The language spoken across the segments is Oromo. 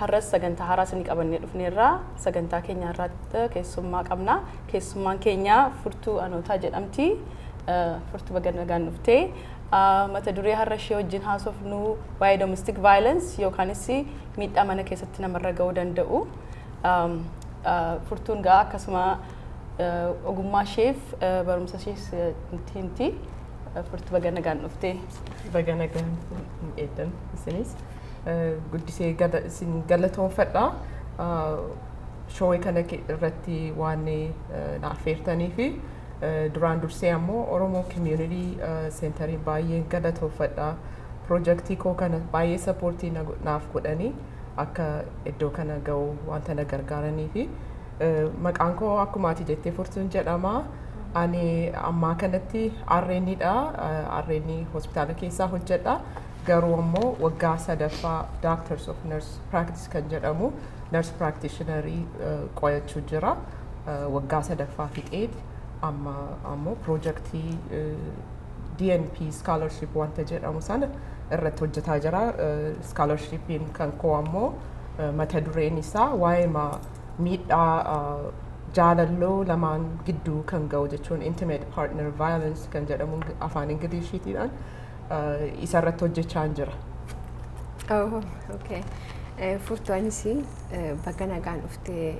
Har'as sagantaa haaraa isinii qabannee dhufneerra. Sagantaa keenya har'aatti keessummaa qabna. Keessummaan keenya Furtuu Anootaa jedhamti. Furtuu baga nagaan dhufte. Mata duree har'a ishee wajjin haasofnu waa'ee domestic violence yookaanis miidhaa mana keessatti namarra ga'uu danda'u. Furtuun ga'a akkasuma ogummaa isheef barumsa ishees nutti himti. Furtuu baga nagaan dhufte. Baga nagaan eegdan isinis. guddisee isin galatoonfadha. Showee kana irratti waan na affeertanii fi duraan dursee ammoo Oromoo Community Centerii baay'een galatoonfadha. Pirojektii koo kana baay'ee sappoortii naaf godhanii akka iddoo kana ga'u wanta na gargaaranii fi maqaan koo akkuma ati jettee furtuun jedhama. Ani ammaa kanatti RNdha. RN hospitaala keessaa hojjedha. Garuu ammoo waggaa sadaffaa Doctors of Nurse Practice kan jedhamu nurse practitioner qo'achuu jira. Waggaa sadaffaa fixeet amma ammoo piroojaktii DNP scholarship wanta jedhamu sana irratti hojjetaa jira. Scholarshipiin kan koo ammoo mata dureen isaa waa'ee miidhaa jaalalloo lamaan gidduu kan ga'u jechuun intimate partner violence kan jedhamu afaan Ingiliishiitiidhaan isarratti hojjechaa jira. Oh, okay. Eh, Furtuu anis eh, baga nagaan dhuftee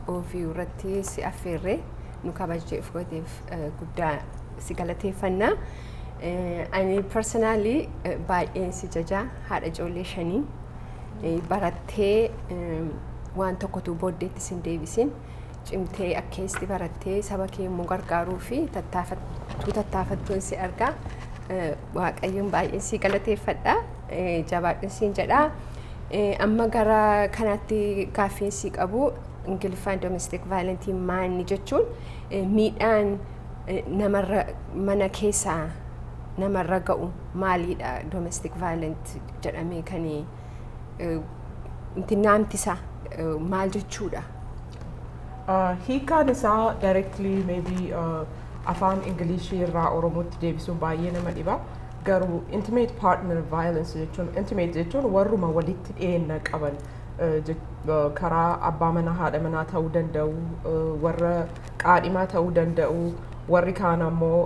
ofii irratti si affeerree nu kabajjeef gooteef eh, guddaa si galateeffanna. Eh, Ani personally eh, baay'een si jaja haadha ijoollee shanii eh, barattee eh, waan tokkotu booddeetti sin deebisin. Cimtee akkeessi barattee saba kee immoo gargaaruu fi tattaafattuu tattaafattuun si argaa. Eh, Waaqayyoon baay'een si galateeffadha. Eh, Jabaadhun siin jedha. Eh, Amma gara kanaatti gaaffiin si qabu Ingiliffaan domestic violence maanni jechuun eh, miidhaan eh, namarra mana keessaa namarra ga'u maalidha domestic violence jedhamee kan Naamti isaa maal jechuudha? Hiikaan isaa directly maybe afaan Ingilishii irraa Oromootti deebisuun baay'ee nama dhiba. Garuu intimate partner violence jechuun intimate jechuun warruma walitti dhiyeenya qaban karaa abbaa manaa haadha manaa ta'uu danda'u warra qaadhimaa ta'uu danda'u. Warri kaan ammoo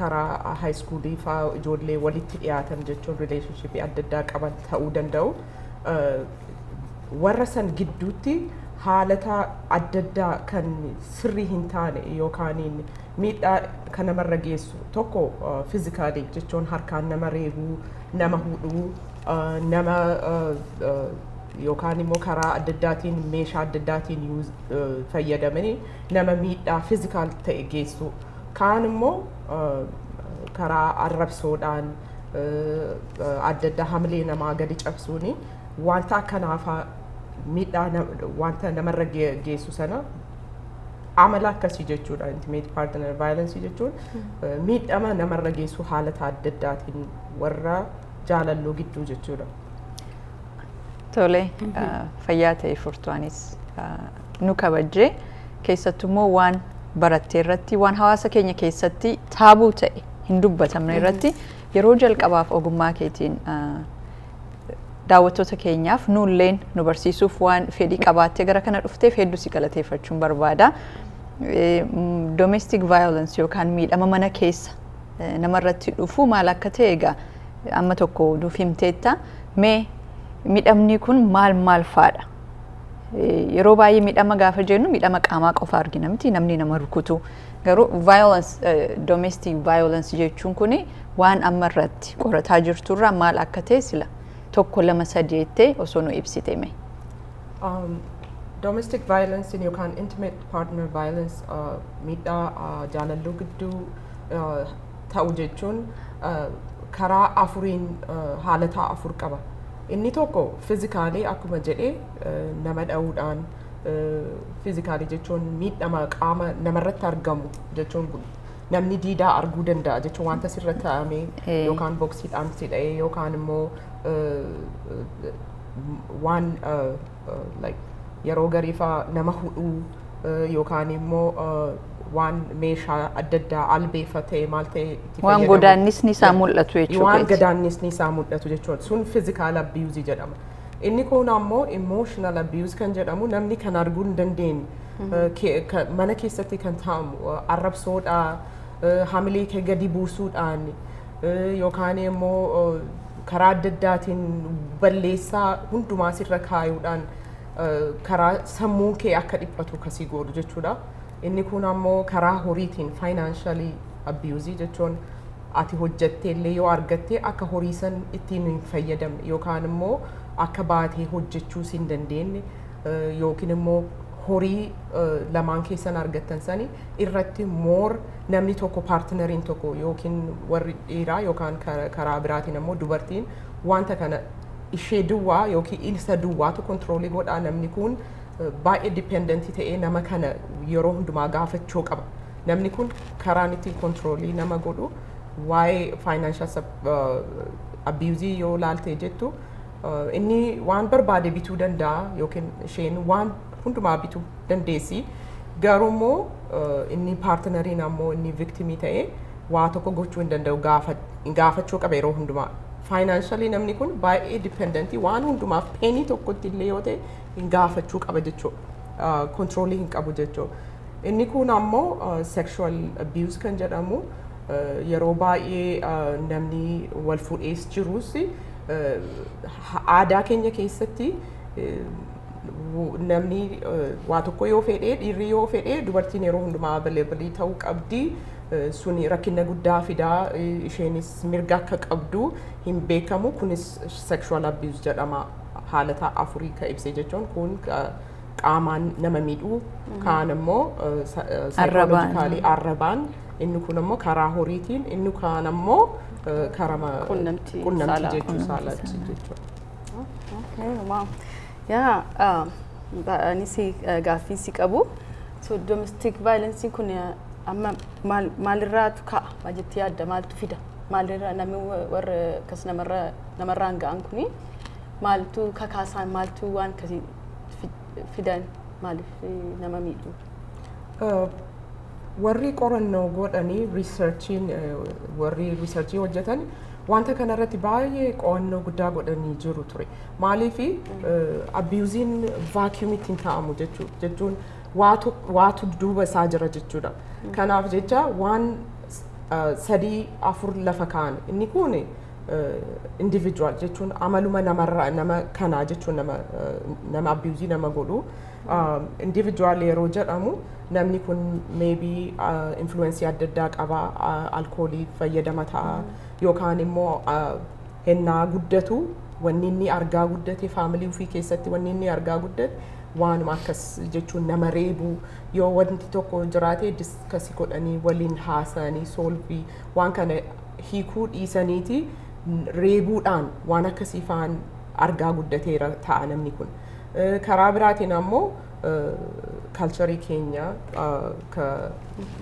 karaa haayiskuulii fa'aa ijoollee walitti dhiyaatan jechuun rileeshinshippii adda addaa qaban ta'uu danda'u. Warra san gidduutti haalata adda addaa kan sirrii hin taane yookaan miidhaa kan namarra geessu tokko fiizikaalii jechuun harkaan nama reebuu, nama hudhuu, nama yookaan immoo karaa adda addaatiin meeshaa adda addaatiin fayyadamanii nama miidhaa fizikaal ta'e geessuu kaan immoo karaa arrabsoodhaan adda addaa hamilee namaa gadi cabsuuni wanta akkanaafaa miidhaa wanta namarra geessu sana amala akkasii jechuudha intimate partner violence jechuun miidhama namarra geessu haalata adda addaatiin warra jaalalloo gidduu jechuudha. Tole fayyaa ta'e furtuunis nu kabajjee keessattuu immoo waan barattee irratti waan hawaasa keenya keessatti taabuu ta'e hin dubbatamne irratti yeroo jalqabaaf ogummaa keetiin daawwattoota keenyaaf nuulleen nu barsiisuuf waan fedhii qabaattee gara kana dhufteef hedduu si galateeffachuun barbaada. Domestic violence yookaan miidhama mana keessa namarratti dhufu maal akka ta'e egaa amma tokko nuuf himteetta. Mee midhamni kun maal maal faadha? Yeroo baay'ee midhama gaafa jennu midhama qaamaa qofa argina miti namni nama rukutu. Garuu violence, domestic violence jechuun kun waan amma irratti qorataa jirturraa maal akka ta'e sila tokko lama sadii jettee osoo nu ibsite mee. Um, domestic violence yookaan intimate partner violence uh, miidhaa uh, jaalalluu gidduu eh, ta'u jechuun eh, karaa afuriin eh, haalataa afur qaba. Inni tokko fizikaalii akkuma jedhe eh, nama dha'uudhaan eh, fizikaalii jechuun miidhama qaama namarratti argamu jechuun kun namni diidaa arguu danda'a jechuun wanta sirra taa'amee Eh. yookaan boksiidhaan si dha'ee yookaan immoo eh, eh, waan eh, like yeroo gariifa nama hudhuu eh, yookaan immoo eh, waan meeshaa adda addaa albeefa ta'e maal ta'e itti Waan fayyadamu. godaannisni isaa Yeah. mul'atu jechuu Waan keeti. godaannisni isaa mul'atu jechuudha. Sun physical abuse jedhama. Inni kun ammoo emotional abuse kan jedhamu namni kan arguu hin dandeenye eh, ke- ka- mana keessatti kan taa'amu eh, arrabsoodhaa eh, hamilee kee gadi buusuudhaan yookaan immoo karaa adda addaatiin balleessaa hundumaa sirra kaayuudhaan karaa sammuun kee akka dhiphatu kasii godhu jechuudha. Inni kun ammoo karaa horiitiin faayinaanshalii abiyuuzii jechuun ati hojjettee illee yoo argatte akka horii san ittiin hin fayyadamne yookaan immoo akka baatee hojjechuu si hin dandeenye yookiin immoo horii lamaan keessan argattan sani irratti moor namni tokko paartinariin tokko yookiin warri dhiiraa yookaan ka- karaa biraatiin ammoo dubartiin wanta kana ishee duwwaa yookiin ilsa duwwaatu kontiroolii godhaa namni kun eh, baay'ee dipendentii ta'ee nama kana yeroo hundumaa gaafachuu qaba. Namni kun karaan ittiin kontiroolii nama godhu waa'ee faayinaanshaal abiyuuzii yoo laaltee jettu eh, inni waan barbaade bituu danda'a yookiin isheen waan hundumaa bituu dandeessi. Garuu immoo eh, inni paartinariin ammoo inni viktimii ta'e waa tokko gochuu hin danda'u gaafa- gaafachuu qaba yeroo hundumaa. Faayinaanshalii namni kun baay'ee dipendentii waan hundumaaf peenii tokkotti illee yoo ta'e hin gaafachuu qaba jechuudha. Kontiroolii hin qabu jechuudha. Inni kun ammoo sexual abuse kan jedhamu eh, yeroo baay'ee eh, namni wal fuudhees jirus eh, ha- aadaa keenya keessatti eh, namni waa tokko yoo fedhee dhiirri yoo fedhee dubartiin yeroo hundumaa available ta'uu qabdi. Sun rakkina guddaa fidaa isheenis mirga akka qabdu hin beekamu kunis sexual abuse jedhama haala ta'a afurii ka ibse jechuun kun qaamaan nama miidhuu kaan immoo saayikoolojikaalii arrabaan inni kun immoo karaa horiitiin inni kaan immoo karaa qunnamtii jechuu saalaatti jechuudha. Okay, wow. Yeah, um, ba- ani si eh, gaaffii si qabu. So domestic violence kun eh, amma maal maalirraatu ka'a? Maal jettee yaadda? Maaltu fida? Maalirraa namni wa- warra akkas namarra namarraan ga'an kuni maaltu kakaasaan maaltu waan akkasii fi- fidan maaliif eh, nama miidhu? Uh, warri qorannoo godhanii riisarchiin uh, warri riisarchii hojjetan Wanta kana irratti baay'ee qo'annoo guddaa godhanii jiru ture. Maaliif abiyuuziin vaakiyuumitti hin taa'amu jechuu- jechuun waatu waatu duuba isaa jira jechuudha. Kanaaf jecha waan s- eh, sadii afur lafa kaa'an inni kun individual jechuun amaluma namarraa nama kanaa jechuun nama eh, nama abiyuuzii nama godhu Individual yeroo jedhamu namni kun maybe influensii adda addaa qaba alkoolii fayyadama ta'a yookaan immoo hennaa guddatu wanni inni argaa guddate faamilii ofii keessatti wanni inni argaa guddate waanuma akkas jechuun nama reebu yoo wanti tokko jiraate diskasi godhanii waliin haasa'anii soolvii waan kana hiikuu dhiisaniiti reebuudhaan waan akkasii faan argaa guddateera ta'a namni kun. Eh, Karaa biraatiin ammoo kalcharii keenya eh, ka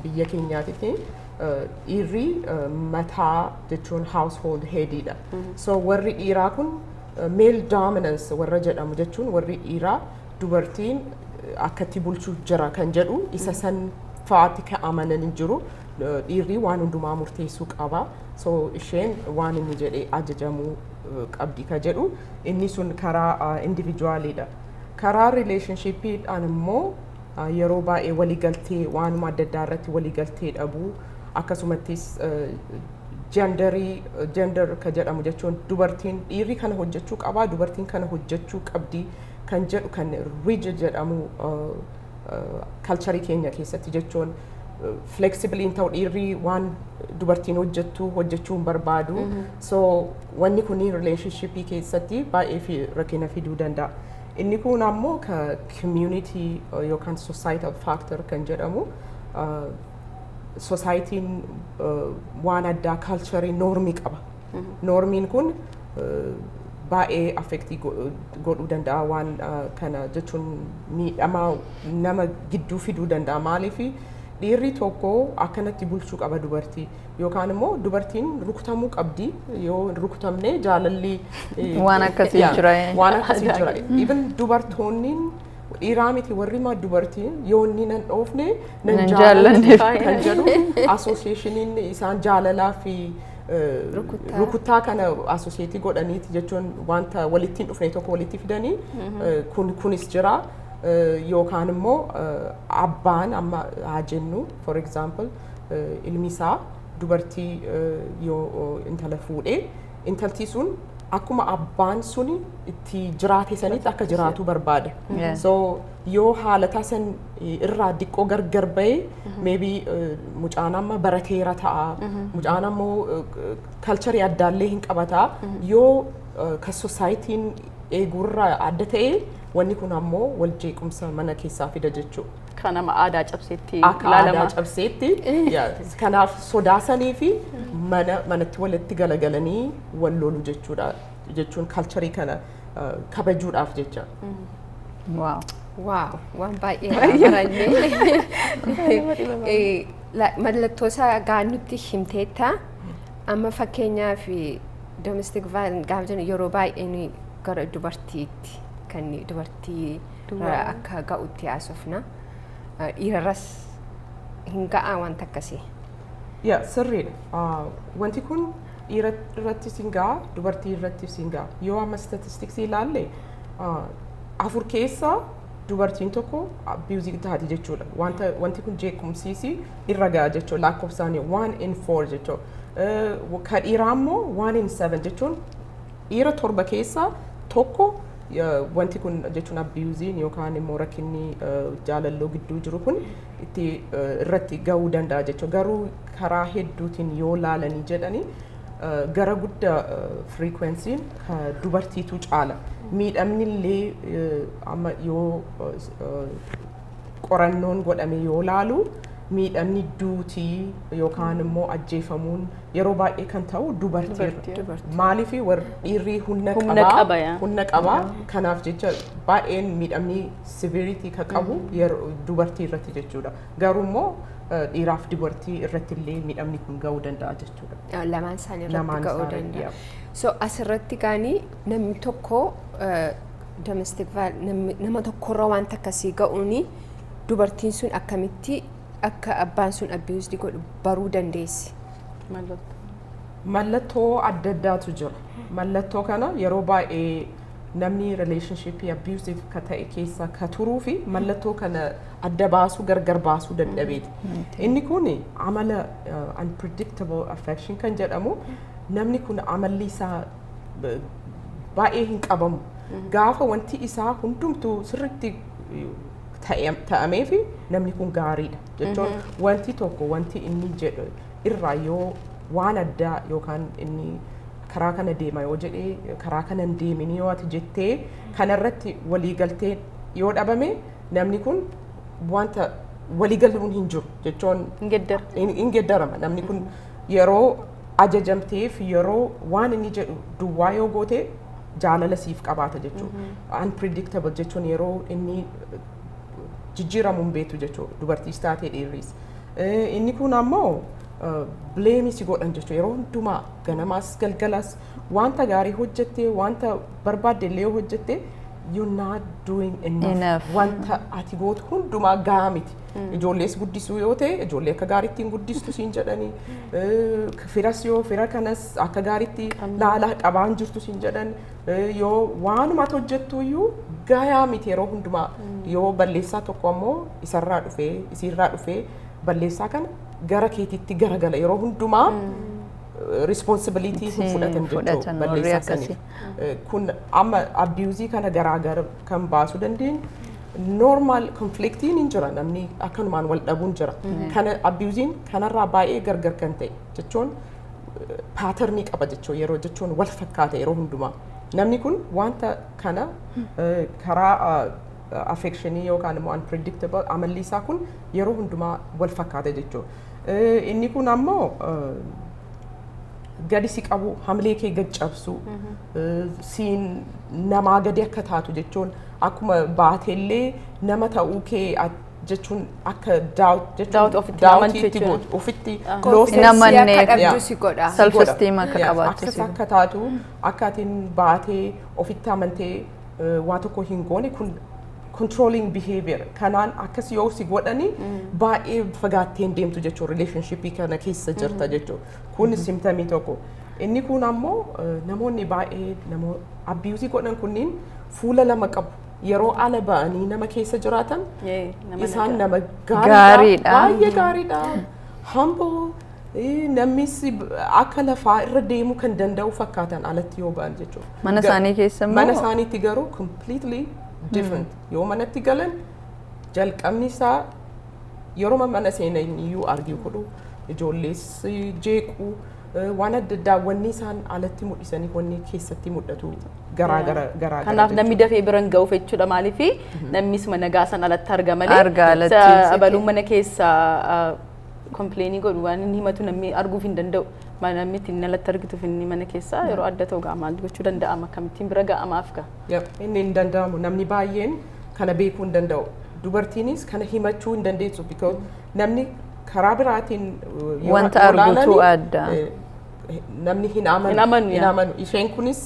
biyya keenyaatitti eh, dhiirri eh, mataa jechuun household headiidha. So warri dhiiraa kun eh, male dominance warra jedhamu jechuun warri dhiiraa dubartiin eh, akkatti bulchuu jira kan jedhu isa san fa'aatti kan amananii jiru. Eh, Dhiirri waan hundumaa murteessuu qaba. So isheen waan inni jedhee ajajamuu qabdi ka jedhu inni sun karaa individuaaliidha. Karaa rileeshonshiippiidhaan immoo yeroo baay'ee waliigaltee waanuma adda addaa irratti waliigaltee dhabuu akkasumattis jendarii jendar ka jedhamu jechuun dubartiin dhiirri kana hojjechuu qabaa dubartiin kana hojjechuu qabdi kan jedhu kan rija jedhamu kalcharii keenya keessatti jechuun fleksibiliin ta'u dhiirri waan dubartiin hojjettu hojjechuu hin barbaadu So wanni kun relationship keessatti baay'ee fi rakkina fiduu danda'a. Inni kun ammoo ka community uh, yookaan societal factor kan jedhamu uh, society'n uh, waan addaa culture normii qaba. Normiin kun uh, baay'ee affectii go- godhuu danda'a waan uh, kana jechuun miidhama nama gidduu fiduu danda'a maaliif dhiirri tokko akkanatti bulchuu qaba dubartii Yookaan immoo dubartiin rukutamuu qabdi yoo hin rukutamne jaalalli eh, Waan akkasii yeah, jira, eh. waan akkasii Ajaa'iba. jira jira. Even dubartoonniin dhiiraa miti warri maa dubartiin yoo inni nan dhoofne Nan nan jaallanne jaallanne taa'e kan jedhu asooseeshiniin isaan jaalalaa fi eh, Rukuttaa. rukuttaa kana asooseetii godhaniiti jechuun wanta walitti hin dhufne tokko walitti fidanii eh, kun kunis jira Eh, yookaan immoo eh, abbaan amma haa jennu for example eh, ilmi isaa dubartii eh, yoo eh, intala fuudhe intaltii sun akkuma abbaan suni itti jiraate sanitti akka jiraatu barbaada. Yeah. So yoo haalataa san eh, irraa diqqoo gargar ba'e maybe eh, mucaan amma barateera ta'a mucaan ammoo kalcharii addaallee hin qabata yoo eh, ka sosaayitiin eeguurraa adda ta'e wanni kun ammoo wal jeequmsa mana keessaa fida jechuudha. Kan nama aadaa cabseetti akka aadaa ilaalama. cabseetti yaa, kanaaf sodaasanii fi mana manatti walitti galagalanii wal lolu jechuudha jechuun kalcharii kana ah, kabajuudhaaf jecha. Waaw. Waaw, waan baay'ee baranne. Mallattoo isaa gaannutti himteetta. Amma fakkeenyaaf domestic violence gaafa jennu yeroo baay'ee nuyi gara dubartiitti kan dubartii Duwwaa. akka ga'utti haasofna. Dhiirarras hin ga'aa wanta akkasii. Yaa sirriidha. Ah, Wanti kun dhiira irratti siin ga'a, dubartii irratti siin ga'a. Yoo amma statistiksii ilaalle ah, afur keessaa dubartiin tokko abiyuuzii taati jechuudha. Wanta wanti kun jeequmsiisii irra ga'a jechuudha. Lakkoofsaan one in four jechuudha. Eh, Ka dhiiraa immoo one in seven jechuun dhiira torba keessaa tokko wanti kun jechuun abiyuuziin yookaan immoo rakkinni jaalalloo gidduu jiru kun itti irratti ga'uu danda'a jechuudha. Garuu karaa hedduutiin yoo laalanii jedhanii gara guddaa firiikwensiin dubartiitu caala. Miidhamni illee amma yoo qorannoon godhame yoo laalu miidhamni duutii yookaan immoo ajjeefamuun yeroo baay'ee kan ta'u dubartiirra. Dubartii. Dubartii. Maaliif warri dhiirri humna Humna qaba, qaba, yaa. humna qaba kanaaf jecha baay'een miidhamni siviiritii kan qabu yeroo dubartii irratti jechuudha. Garuu immoo eh, dhiiraaf dubartii irratti illee miidhamni kun ga'uu danda'a jechuudha. lamaan isaanii irratti Lamaan ga'uu isaanii, danda'a. So asirratti gaanii Namni tokko domestic nama tokkorra waan takka sii ga'uun dubartiin sun akkamitti akka abbaan sun abiyuusdi godhu baruu dandeessi. Mallattoo adda addaatu jira. Mallattoo kana yeroo baay'ee namni rileeshinshiippii abiyuusiif ka ta'e keessa ka turuu fi mallattoo kana adda baasuu gargar baasuu dadhabeeti. Inni kun amala unpredictable affection kan jedhamu namni kun amalli isaa b- baay'ee hin qabamu. Gaafa wanti isaa hundumtuu sirriitti eh, ta'e- ta'amee fi namni kun gaariidha jechuun wanti tokko wanti inni jedhu irraa yoo waan addaa yookaan inni karaa kana deema yoo jedhee karaa kana hin deemin yoo ati jettee kanarratti waliigaltee yoo dhabame namni kun wanta waliigaluun hin jiru jechuun Hin geddara. hin hin geddarama namni kun yeroo ajajamteef yeroo waan inni jedhu duwwaa yoo goote jaalala siif qabaata jechuudha. Unpredictable jechuun yeroo inni jijjiiramu hin beektu jechuudha. Dubartiis taatee dhiirris. Eh, Inni kun ammoo bileemii si godhan jechuudha. Yeroo hundumaa ganamaas galgalas wanta gaarii hojjette wanta barbaadde illee yoo hojjette you're not doing enough. Enough. Wanta ati gootu hundumaa gahaa miti. Ijoollees guddisuu yoo ta'e ijoollee akka gaariitti hin guddistu siin jedhanii eh, firas yoo fira kanas akka gaariitti laalaa qabaan jirtu siin jedhan eh, yoo waanuma ati hojjettu iyyuu gayaa miti yeroo hundumaa yoo balleessaa tokko ammoo isarraa dhufee isiirraa dhufee balleessaa kana gara keetiitti garagala yeroo hundumaa responsibilitii hin fudhatan jechuudha fudhatan warri balleessaa saniif. akkasii. kun amma abiyuuzii kana garaagar kan baasuu dandeenyu normal konfliktiin hin jira namni akkanumaan wal dhabuun jira kana abiyuuziin kanarraa baay'ee gargar kan ta'e jechuun paaternii qaba jechuu yeroo jechuun wal fakkaata yeroo hundumaa namni kun wanta kana eh, karaa affekshinii yookaan immoo unpredictable amalli isaa kun yeroo hundumaa wal fakkaata jechuudha. Eh, Inni kun ammoo eh, gadi si qabu hamilee kee gad cabsu eh, siin namaa gadi akka taatu jechuun akkuma baatellee nama ta'uu kee at- jechuun akka daawut Doubt jechuun ofitti daawutii amantu itti jechuudha. gootu ofitti Ah. loosee Confidence Nama akka neef- dhabdu Yeah. si godha. si Self godha. esteem akka Yeah, qabaattu access si godha. akka taatu akka atiin baatee ofitti amantee eh, waa tokko hin goone kun controlling behavior kanaan akkas yoo si godhani baay'ee fagaattee hin deemtu jechuun relationship kana keessa jirta jechuun kun simtamii tokko inni kun ammoo eh, namoonni baay'ee namoo abiyuuzii godhan kunniin fuula lama qabu yeroo ala ba'anii nama keessa jiraatan Yee, nama isaan nagaa. nama gaariidha Gaariidha. baay'ee gaariidha humble Namnis akka lafaa irra deemuu kan danda'u fakkaatan alatti yoo ba'an jechuudha. Mana isaanii keessa immoo? Mana isaaniitti garuu completely different. Yoo manatti galan jalqabni isaa yeroo mana seenan iyyuu argii godhu ijoollees jeequ waan adda addaa wanni isaan alatti mul'isanii wanni keessatti mul'atu garaa gara garaa Kanaaf namni dafee bira hin ga'uuf jechuudha maaliif namnis mana gaasan alatti arga malee. Arga alatti. Abaluun mana keessa kompleenii godhu waan inni himatu namni arguuf hin danda'u. Ma- Namni ittiin alatti argituuf inni mana keessaa yeroo adda ta'u gaa maal gochuu danda'ama akkamittiin bira ga'amaaf gaa. Yep, inni hin danda'amu namni baay'een kana beekuu hin danda'u dubartiinis kana himachuu hin dandeessu because namni karaa biraatiin uh, yoo Wanta yoo argutu ilaalani, adda. eh, namni hin amanu Hin amanu, hin yaa. amanu isheen kunis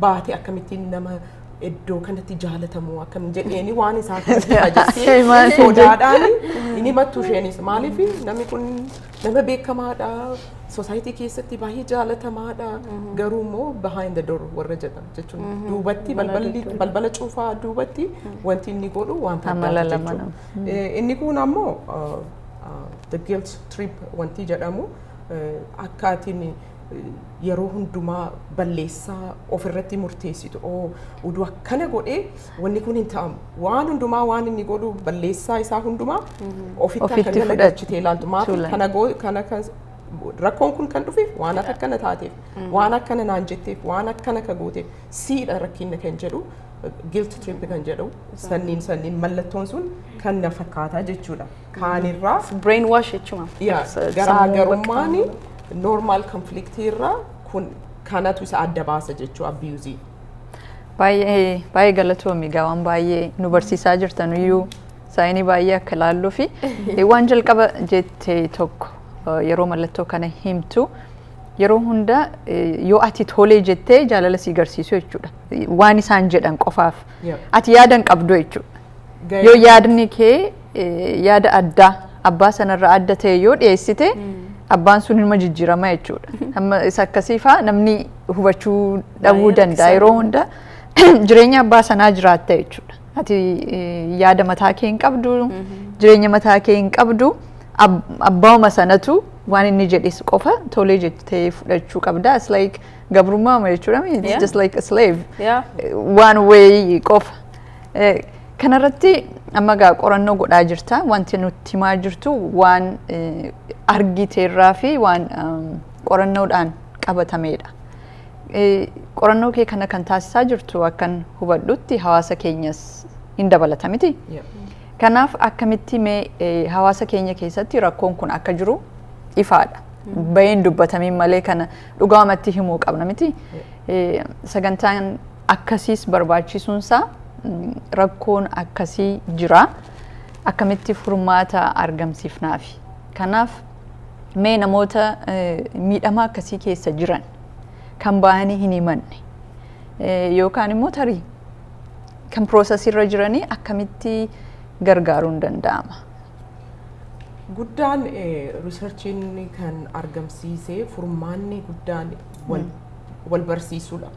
baate akkamittiin nama iddoo kanatti jaalatamu akkam jedheeni waan isaa kanatti Maal hajessee jedhe? sodaadhaan hin himattu isheenis maaliif namni kun nama beekamaadha sosaayitii keessatti baay'ee jaalatamaadha garuu immoo behind the door warra jedhan jechuun duubatti balballi balbala cuufaa duubatti wanti inni godhu wanta Amala addaati lama jechuudha. Eh, Inni kun ammoo uh, uh, the guilt trip wanti jedhamu eh, akkaatiin yeroo hundumaa balleessaa ofirratti murteessitu oo udu akkana godhee wanni kun hin ta'amu waan hundumaa waan inni godhu balleessaa isaa hundumaa ofitti akka Ofitti gala fudhatu. galchitee ilaaltu maaf Tuulan. kana goo kana kan rakkoon kun kan dhufeef waan akka akkana taateef waan akkana naan jetteef waan akkana ka gooteef siidha rakkinna kan jedhu guilt trip kan jedhu sanniin sanniin mallattoon sun kan na fakkaataa jechuudha. kaanirraa Brain wash jechuun. yaa garaagarummaan normal conflict irraa kun kanatu isa adda baasa jechuu abiyuuzii. Baay'ee baay'ee galatoomi egaa waan baay'ee nu barsiisaa jirtan iyyuu saayinii baay'ee akka ilaalluu fi waan jalqaba jette tokko eh, yeroo mallattoo kana himtu yeroo hunda eh, yoo ati tolee jettee jaalala si garsiisu jechuudha. Waan isaan jedhan qofaaf Yep. ati yaadan qabdu jechuudha. Ga'ee- Yoo yaadni kee eh, yaada addaa abbaa sanarraa adda ta'e yoo dhiyeessite abbaan sun ilma jijjiirama jechuudha. Amma isa akkasiifaa namni hubachuu dhabuu Baay'ee danda'a rakkisaa yeroo dha. hunda jireenya abbaa sanaa jiraatta jechuudha. Ati eh, yaada mataa kee hin qabdu, jireenya mataa kee hin qabdu, ab- abbauma sanatu waan inni jedhes qofa tolee jettee fudhachuu qabda. It's like gabrummaa jechuudha. It's Yeah. just like a slave. Yeah. One way qofa. Kanarratti amma egaa qorannoo godhaa jirta. Wanti nutti himaa jirtu waan argiteerraa fi waan qorannoodhaan qabatameedha. Qorannoo kee kana kan taasisaa jirtu akkan hubadhutti hawaasa keenyas hin dabalata miti. Kanaaf akkamitti mee hawaasa keenya keessatti rakkoon kun akka jiru ifaadha. Bayeen dubbatamiin malee kana dhugaamatti himuu qabna miti. Sagantaan akkasiis barbaachisuun isaa rakkoon akkasii jira. Akkamitti furmaata argamsiifnaafi? Kanaaf mee namoota miidhama akkasii keessa jiran kan baay'anii hin himanne yookaan immoo tarii kan piroosesirra jiranii akkamitti gargaaruun danda'ama? Guddaan riisarchiin kan argamsiise furmaanni guddaan wal barsiisuudha.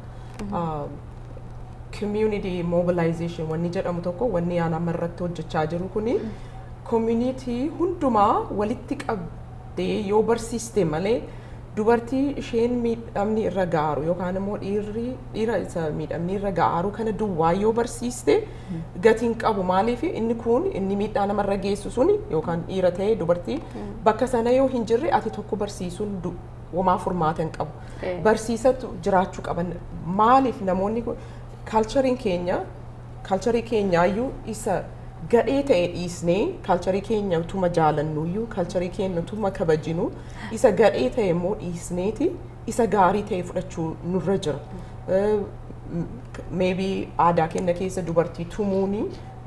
community mobilization wanni jedhamu tokko wanni aan amma irratti hojjechaa jiru kuni community hundumaa walitti qabdee yoo barsiiste malee dubartii isheen miidhamni irra gaaru yookaan immoo dhiirri dhiira isa miidhamni irra gaaru kana duwwaa yoo barsiiste gatiin qabu maaliif inni kun inni miidhaa namarra geessu suni yookaan dhiira ta'e dubartii bakka sana yoo hin jirre ati tokko barsiisuun du- Homaa furmaata hin qabu. Eh. Barsiisatu jiraachuu qaban. Maaliif namoonni kun kaalchariin keenya kaalcharii keenyaayyuu isa gadhee ta'e dhiisnee kaalcharii keenya utuma jaalannuyyuu kaalcharii keenya utuma kabajinu isa gadhee ta'e immoo dhiisneeti isa gaarii ta'e fudhachuu nurra jira. Eh, maybe aadaa keenya keessa dubartii tumuuni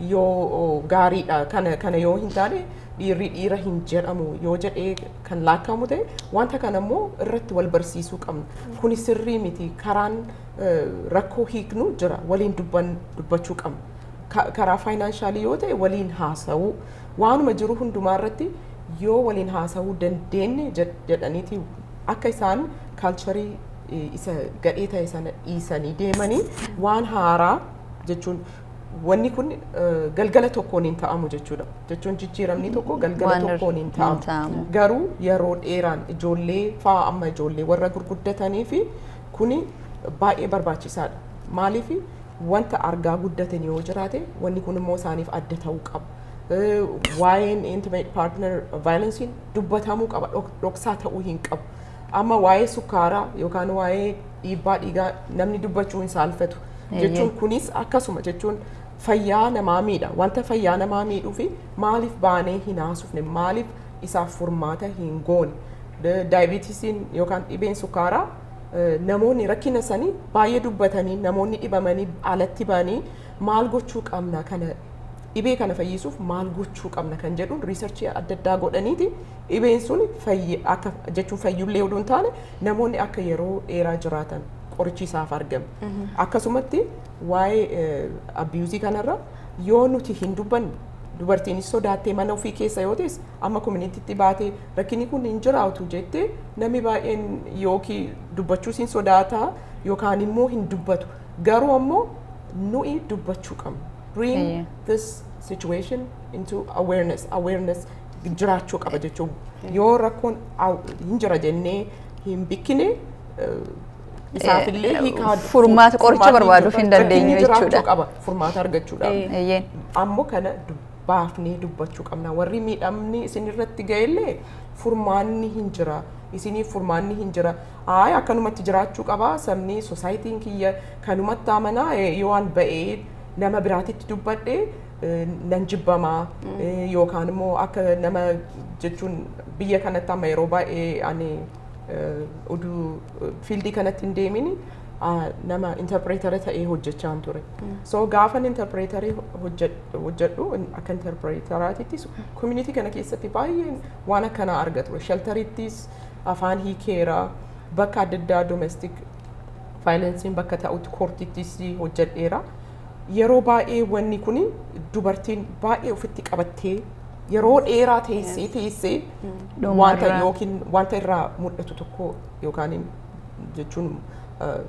yoo gaariidha kana kana yoo hin taane dhiirri dhiira hin jedhamu yoo jedhee kan laakkamu ta'e wanta kana immoo irratti wal barsiisuu qabna. Kuni sirrii miti karaan eh, rakkoo hiiknu jira waliin dubban dubbachuu qabna. Ka- Karaa faayinaanshalii yoo ta'e waliin haasa'uu waanuma jiru hundumaa irratti yoo waliin haasa'uu dandeenye jed- jedhaniiti akka isaan kaalcharii eh, isa gadhee ta'e sana dhiisanii deemanii waan haaraa jechuun Wanni kun galgala tokkoon hin ta'amu jechuudha. Jechuun jijjiiramni tokko galgala tokkoon hin ta'amu. Garuu yeroo dheeraan ijoollee fa'aa amma ijoollee warra gurguddatanii fi kuni baay'ee barbaachisaadha. Maaliif wanta argaa guddatan yoo jiraate wanni kun immoo isaaniif adda ta'uu qaba. Waa'een intimate partner violence dubbatamuu qaba dhoksaa ta'uu hin qabu. Amma waa'ee sukkaaraa yookaan waa'ee dhiibbaa dhiigaa namni dubbachuu hin saalfatu. jechuun kunis akkasuma jechuun fayyaa namaa miidha wanta fayyaa namaa miidhuu fi maaliif baanee hin haasofne maaliif isaaf furmaata hin goone daayibiitisiin yookaan dhibeen sukkaaraa eh, namoonni rakkina isaanii baay'ee dubbatanii namoonni dhibamanii alatti ba'anii maal gochuu qabna kana dhibee kana fayyisuuf maal gochuu qabna kan jedhuun riisarchii adda addaa godhaniiti dhibeen sun fayyi akka jechuun fayyullee oduu hin taane namoonni akka yeroo dheeraa jiraatan qorichi isaaf argame. Akkasumatti waa'ee eh, abiyuuzii kanarra yoo nuti hin dubbanne dubartiinis sodaattee mana ofii keessa yoo teesse amma kominitiitti baatee rakkinni kun hin jiraatu jettee namni baay'een yookiin dubbachuus hin sodaata yookaan immoo hin dubbatu. Garuu ammoo nuyi dubbachuu qabna. Bring Eeyyee. this situation into awareness. Awareness jiraachuu qaba jechuun yoo rakkoon aw- hin jira jennee hin bikkine Isaafillee Eh, hiikaa furmaata qoricha furmaatni barbaaduuf hin jiraachuu dandeenyu jiraachuu jechuudha. qaba furmaata argachuudhaaf. Eh. Eeyyeen. ammoo kana dubbaafnee dubbachuu qabna warri miidhamni isin irratti ga'ellee furmaanni hin jira isiniif furmaanni hin jira aay akkanumatti jiraachuu qaba sabni sosaayitiin kiyya kanumatti amanaa eh, yoo an ba'ee nama biraatitti dubbadhe eh, nan jibbamaa eh, yookaan immoo akka nama jechuun biyya kanatti amma yeroo baay'ee ani oduu fiildii kanatti hin deemin nama interpreetara ta'ee hojjechaa hin ture. So gaafan interpreetarii hojjedhu akka interpreetaraatittis community kana keessatti baay'een waan akkanaa arga ture. Sheltarittis afaan hiikeera bakka adda addaa domestic vaayilensiin bakka ta'utti koortittis hojjedheera. Yeroo baay'ee wanni kun dubartiin baay'ee ofitti qabattee yeroo dheeraa teessee teessee Dhumarra. wanta yookiin wanta irraa mul'atu tokko yookaan jechuun eh,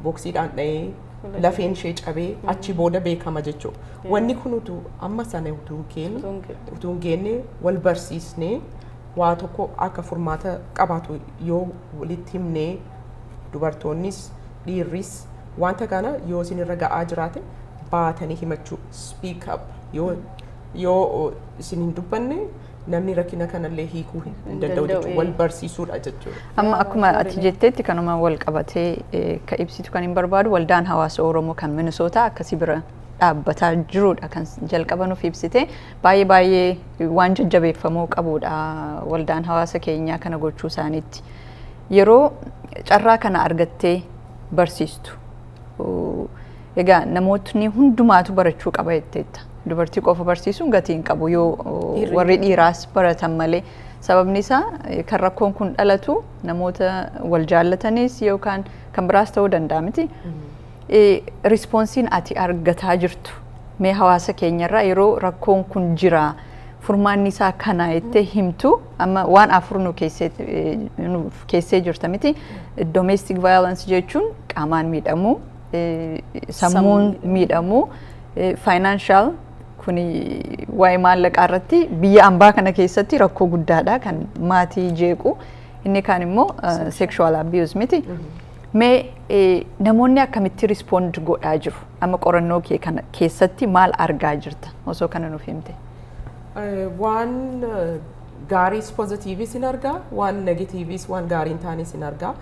boksiidhaan dha'ee lafeen ishee cabee achi booda beekama jechuudha. Wanni kun utuu amma sana utuu hin keenne Utuu hin keenne. utuu hin geenne wal barsiisnee waa tokko akka furmaata qabaatu yoo walitti himnee dubartoonnis dhiirris Wanta kana yoo isin irra ga'aa jiraate baatanii himachuu speak up yoo yoo isin hin dubbanne namni rakkina kanallee hiikuu hin hin danda'u danda'u, jechuudha. ee. Wal barsiisuudha jechuudha. Amma akkuma ati jetteetti kanuma wal qabatee eh, ka ibsitu kan hin barbaadu waldaan hawaasa Oromoo kan Minisootaa akkasii bira dhaabbataa jirudha kan jalqaba nuuf ibsite baay'ee baay'ee waan jajjabeeffamuu qabudha waldaan hawaasa keenyaa kana gochuu isaaniitti. Yeroo carraa kana argattee barsiistu egaa namootni hundumaatu barachuu qaba jetteetta. Dubartii qofa barsiisuun gatii hin qabu yoo warri dhiiraas baratan malee. Sababni isaa kan rakkoon kun dhalatu namoota wal jaallatanis yookaan kan biraas ta'uu danda'a miti. Rispoonsiin ati argataa jirtu mee hawaasa keenyarraa yeroo rakkoon kun jira furmaanni isaa kana jettee himtu amma waan afur nu keessee jirta miti domestic violence jechuun qaamaan miidhamuu sammuun miidhamuu financial kun waa'ee maallaqaa irratti biyya ambaa kana keessatti rakkoo guddaadha kan maatii jeequ inni kaan immoo sexual abuse miti. Mee eh, namoonni akkamitti respond godhaa jiru? Amma qorannoo kee kana keessatti maal argaa jirta? Osoo kana nuuf himte. Eh, waan eh, gaariis pozitiivis hin argaa waan negatiivis waan gaarii hin taanes hin argaa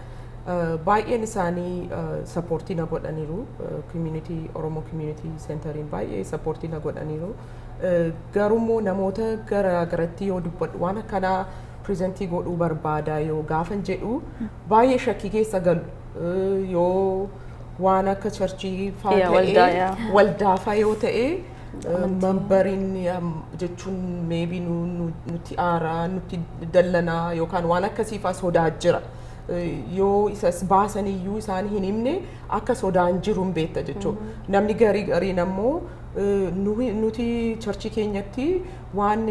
Eh, baay'een isaanii eh, sappoortii na godhaniiru community oromoo community centeriin baay'ee sappoortii na godhaniiru Eh, garuu immoo namoota gara garatti yoo dubbadhu waan akkanaa presentii godhuu barbaada yoo gaafan jedhu baay'ee shakkii keessa galu Eh, yoo waan akka charchii faa Yeah, waldaa, ta'ee yeah. waldaafaa yoo ta'e mambariin jechuun meebii nutti aaraa nutti dallanaa yookaan waan akkasiifaa sodaa jira. Eh, Yoo isas baasan iyyuu isaan hin himne akka sodaan jiru hin beekta jechuudha. Namni garii gariin ammoo nuti charchii keenyatti waan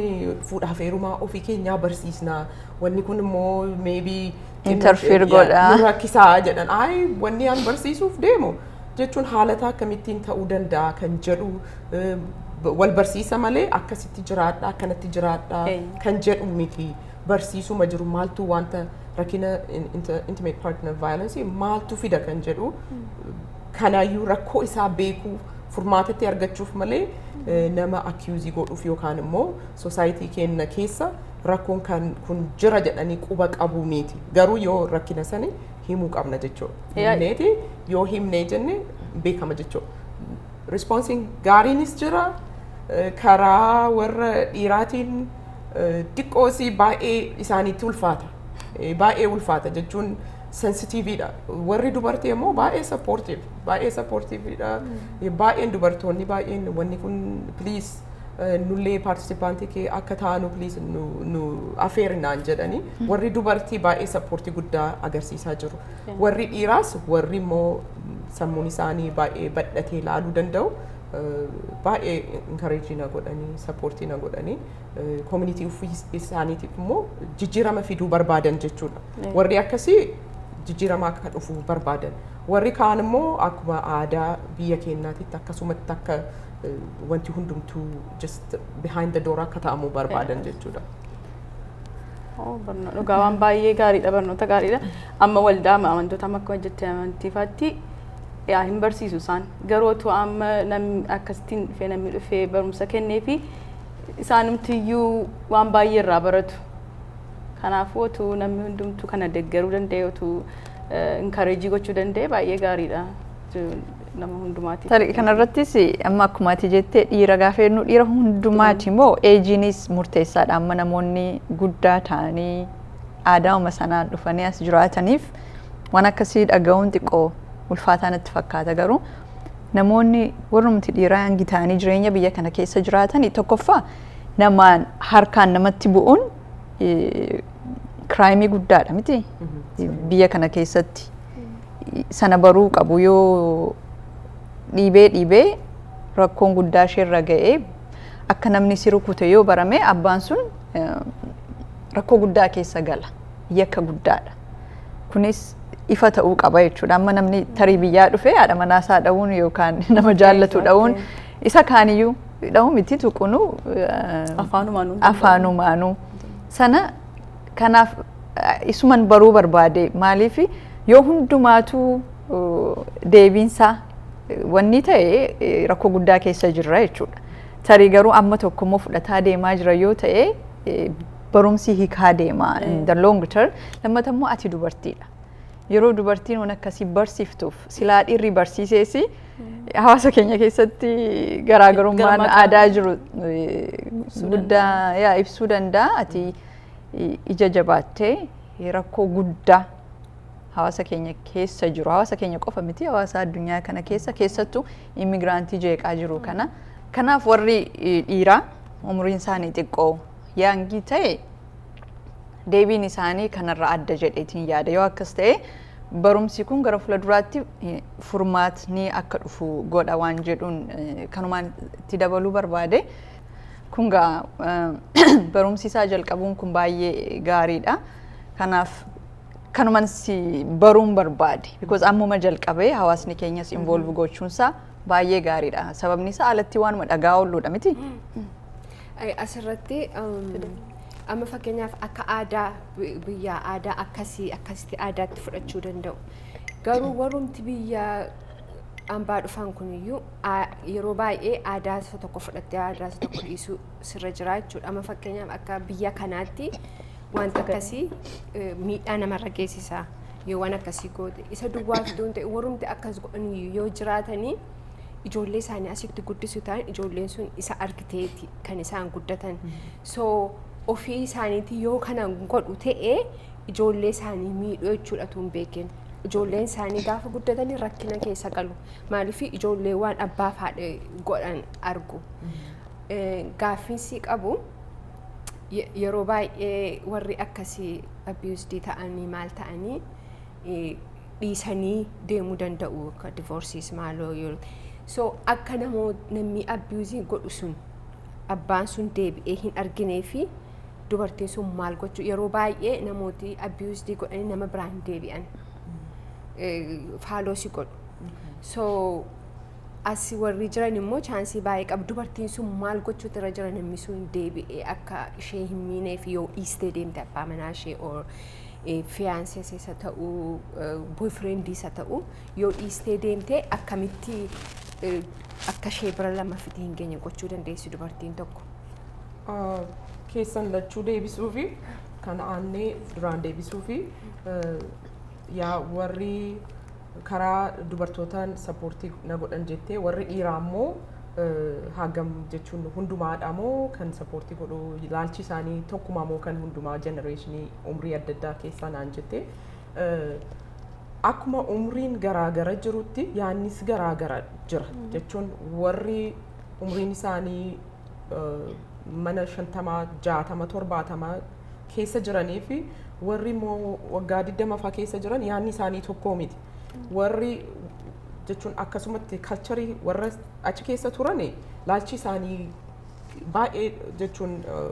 fuudhaaf heerumaa ofii keenyaa barsiisna. Wanni kun immoo meebii Interfere godha. nu rakkisaa jedhan. Ayi wanni an barsiisuuf deemu jechuun haalata akkamittiin ta'uu danda'a kan jedhu eh, b- wal barsiisa malee akkasitti jiraadha akkanatti jiraadha Eeyyu. kan jedhu miti. Barsiisuma jiru maaltu wanta rakkina in- inter- intimate partner violence maaltu fida kan jedhu kanaayyuu rakkoo isaa beekuu furmaatatti argachuuf malee eh, nama akiyuuzii godhuuf yookaan immoo sosaayitii keenya keessa rakkoon kan kun jira jedhanii quba qabuu miti garuu yoo rakkina sani himuu qabna jechuudha Yaa- himneeti yoo himnee jenne beekama jechuudha rispoonsiin gaariinis jira eh, karaa warra dhiiraatiin eh, xiqqoosii baay'ee isaaniitti ulfaata Eh, baay'ee ulfaata jechuun sensitiiviidha. Warri dubartii immoo baay'ee sappoortiif baay'ee sappoortiiviidha. Baay'een dubartoonni baay'een wanni kun piliis nullee paartisipaantii kee akka taanu piliis nu afeeri naan jedhanii warri dubartii baay'ee sappoortii guddaa agarsiisaa jiru. Warri dhiiraas warri immoo sammuun isaanii baay'ee badhatee ilaaluu danda'u baay'ee inkareejii na godhanii sappoortii na godhanii koominitii isaaniitiif immoo jijjiirama fiduu barbaadan jechuudha. Warri akkasii jijjiirama akka dhufu barbaadan. Warri kaan immoo akkuma aadaa biyya keenyaatitti akkasumatti akka wanti hundumtuu just behind the door akka ta'amu barbaadan jechuudha. Dhugaa waan baay'ee gaariidha barnoota gaariidha. Amma waldaa amantoota amma akkuma jette amantiifaatti yaa hin barsiisu isaan garuu otoo amma namni akkasittiin dhufee namni dhufee barumsa kennee fi isaanumti iyyuu waan baay'ee irraa baratu. Kanaafuu otuu namni hundumtuu kana deggeruu danda'e otuu inkareejii gochuu danda'e baay'ee gaariidha nama hundumaatiif. Tarii kanarrattis amma akkuma ati jettee dhiira gaafa jennu dhiira hundumaati moo eejiinis murteessaadha amma namoonni guddaa ta'anii aadaama sanaan dhufanii as jiraataniif waan akkasii dhaga'uun xiqqoo ulfaataa natti fakkaata garuu namoonni warrumti dhiiraa hangi ta'anii jireenya biyya kana keessa jiraatan tokkoffaa namaan harkaan namatti bu'uun kiraayimii guddaadha miti biyya kana keessatti sana baruu qabu yoo dhiibee dhiibee rakkoon guddaa isheerra ga'ee akka namni si rukute yoo barame abbaan sun rakkoo guddaa keessa gala yakka guddaadha. Kunis ifa ta'uu qaba jechuudha. Amma namni tarii biyyaa dhufee haadha manaa isaa dha'uun yookaan nama jaallatu dha'uun isa kaaniyyuu dha'uu miti tuqunuu Afaanumaan hundi afaanumaanuu. Sana kanaaf eh, isuman baruu barbaade maaliif yoo hundumaatuu uh, deebiinsaa eh, wanni ta'e eh, rakkoo guddaa keessa jirra jechuudha. Tarii garuu amma tokkommoo fudhataa deemaa jira yoo ta'e eh, barumsi hikaa deema in the long term lammata immoo ati dubartiidha yeroo dubartiin waan akkasii barsiiftuuf silaa dhiirri barsiiseesi hawaasa keenya keessatti garaagarummaan Garmaaqaa. aadaa jiru eh, Ibsuu guddaa yaa ibsuu danda'a ati i- ija jabaattee eh, rakkoo guddaa hawaasa keenya keessa jiru hawaasa keenya qofa miti hawaasa addunyaa kana keessa keessattuu immigiraantii jeeqaa jiru kana kanaaf warri eh, dhiiraa umriin isaanii xiqqoo Yaangii ta'e deebiin isaanii kanarra adda jedheetiin yaada yoo akkas ta'e barumsi kun gara fuula duraatti furmaatni akka dhufu godha waan jedhuun kanumaan itti dabaluu barbaade. Kun gaa barumsi isaa jalqabuun kun baay'ee gaariidha. Kanaaf kanuman si baruun barbaade. Because ammuma jalqabee hawaasni keenyas involve gochuunsaa baay'ee gaariidha. Sababni isaa alatti waanuma dhagaa oolluudha miti. Ay, Asirratti um, amma fakkeenyaaf akka aadaa bi- biyyaa aadaa akkasii akkasitti aadaatti fudhachuu danda'u. Garuu warrumti biyya ambaa dhufan kuniyyuu aa- yeroo baay'ee aadaa isa tokko fudhattee aadaa isa tokko dhiisuu sirra jira jechuudha. Amma fakkeenyaaf akka biyya kanaatti wanta akkasii eh, miidhaa namarra geessisa. Yoo waan akkasii goote isa duwwaaf ta'e warrumti akkas godhaniyyuu yoo jiraatanii ijoollee isaanii asitti guddisu ta'an ijoolleen sun isa argiteeti kan isaan guddatan. So ofii isaaniitii yoo kana godhu ta'e ijoollee isaanii miidhuu jechuudha tun beekin. Ijoolleen isaanii gaafa guddatanii rakkina keessa galu. Maaliif ijoollee waan abbaa fi haadha godhan argu. Eh, Gaaffiin sii qabu ye- yeroo baay'ee warri akkasii abused ta'anii maal ta'anii dhiisanii deemuu danda'u akka divorsiis maaloo yoo so akka namoo namni abiyuuzii godhu sun abbaan sun deebi'ee hin arginee fi dubartiin sun maal gochuu yeroo baay'ee namooti abiyuuzdii godhanii nama biraa hin deebi'an faaloosi godhu so as warri jiran immoo chaansii baay'ee qabu dubartiin sun maal gochuutu irra jira namni sun deebi'ee akka ishee hin miinee fi yoo dhiistee deemte abbaa manaa ishee or fiyaansees isa ta'u boyfriend isa ta'u yoo dhiistee deemte akkamitti akka ishee bira lammaffiti hin geenye gochuu dandeessi dubartiin tokko. Keessan lachuu deebisuu fi kan aannee duraan deebisuu fi yaa warri karaa dubartootaan sappoortii na godhan jettee warri dhiiraa immoo hagam jechuun hundumaadha moo kan sappoortii godhu ilaalchi isaanii tokkumaa moo kan hundumaa jenereeshinii umrii adda addaa keessaa naan jettee akkuma umriin garaagara jirutti yaannis garaagara jira jechuun warri umriin isaanii mana shantamaa jaatama torbaatama keessa jiranii fi warri immoo waggaa 20 faa keessa jiran yaadni isaanii tokkoo miti. Warri jechuun akkasumatti kalcharii warra achi keessa turan laalchi isaanii baay'ee jechuun eh,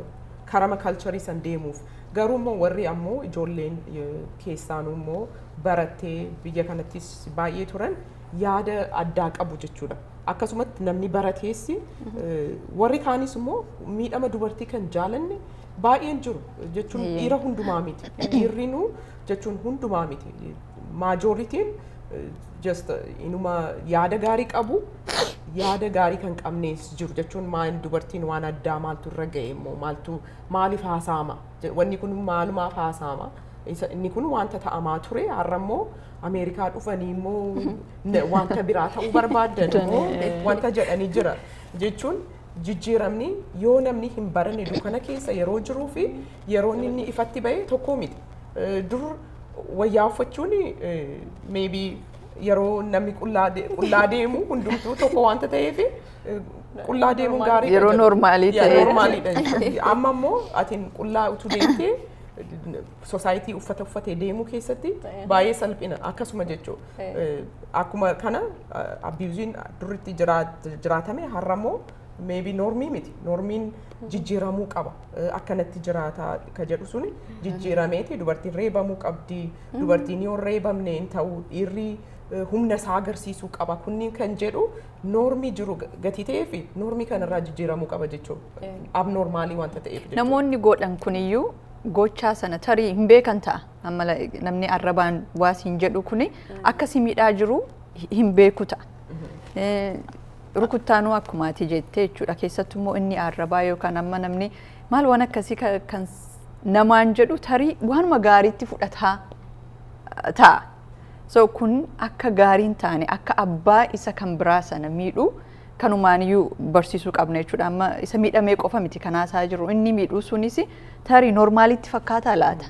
karama kalcharii san deemuuf garuu immoo warri ammoo ijoolleen eh, keessaanuu immoo barattee biyya kanattis baay'ee turan yaada addaa qabu jechuudha. Akkasumatti namni barateessi eh, warri kaanis immoo miidhama dubartii kan jaalanne Baay'een jiru jechuun Eeyyee. dhiira hundumaa miti. Dhiirrinuu jechuun hundumaa miti. Maajooritiin just inuma yaada gaarii qabu yaada gaarii kan qabnees jiru jechuun maal dubartiin waan addaa maaltu irra ga'e immoo maaltu maaliif haasaama Je- wanni kun maalumaaf haasaama Isa- inni kun wanta ta'amaa ture har'a immoo Ameerikaa dhufanii immoo na- wanta biraa ta'uu barbaaddan immoo wanta jedhanii jira jechuun Jijjiiramni yoo namni hin baranne dukkana keessa yeroo jiruu fi yeroon inni ifatti ba'e tokko miti. Eh, Dur wayyaa uffachuun maybe yeroo namni qullaa de- qullaa deemu hundumtuu tokko wanta ta'eef eh, qullaa deemuun gaarii Yeroo normaalii ta'e. ta'e. Normaaliidha jechuudha. Amma immoo atiin qullaa utuu deemtee soosaayitii uffata uffatee deemuu keessatti baay'ee salphina akkasuma jechuudha. Eh, akkuma kana abiyuziin durritti jiraa- jiraatame har'a immoo meebii noormii miti noormiin jijjiiramuu qaba Eh, akkanatti jiraataa ka jedhu suni jijjiirameeti dubartiin reebamuu qabdi dubartiin yoo hin reebamne hin ta'u dhiirri eh, humna isaa agarsiisuu qaba kunniin kan jedhu noormii jiru ga- gatii ta'ee fi noormii kanarraa jijjiiramuu qaba jechuudha Eh. abnoormaalii wanta ta'eef jechuudha. Namoonni godhan kuniyyuu gochaa sana tarii hin beekan ta'a. Amma la- namni arrabaan waa siin jedhu kuni akka si miidhaa jiru hi- hin beeku ta'a. Eh, Rukuttaanuu akkuma ati jettee jechuudha. Keessattuu immoo inni arrabaa yookaan amma namni maal waan akkasii ka- kan s- namaan jedhu tarii waanuma gaariitti fudhataa eh, ta'a. So kun akka gaarii hin taane akka abbaa isa kan biraa sana miidhu kanumaaniyyuu barsiisuu qabna jechuudha. Amma isa miidhamee qofa miti kan haasaa jiru. Inni miidhuu sunis tarii normaalitti fakkaataa laata?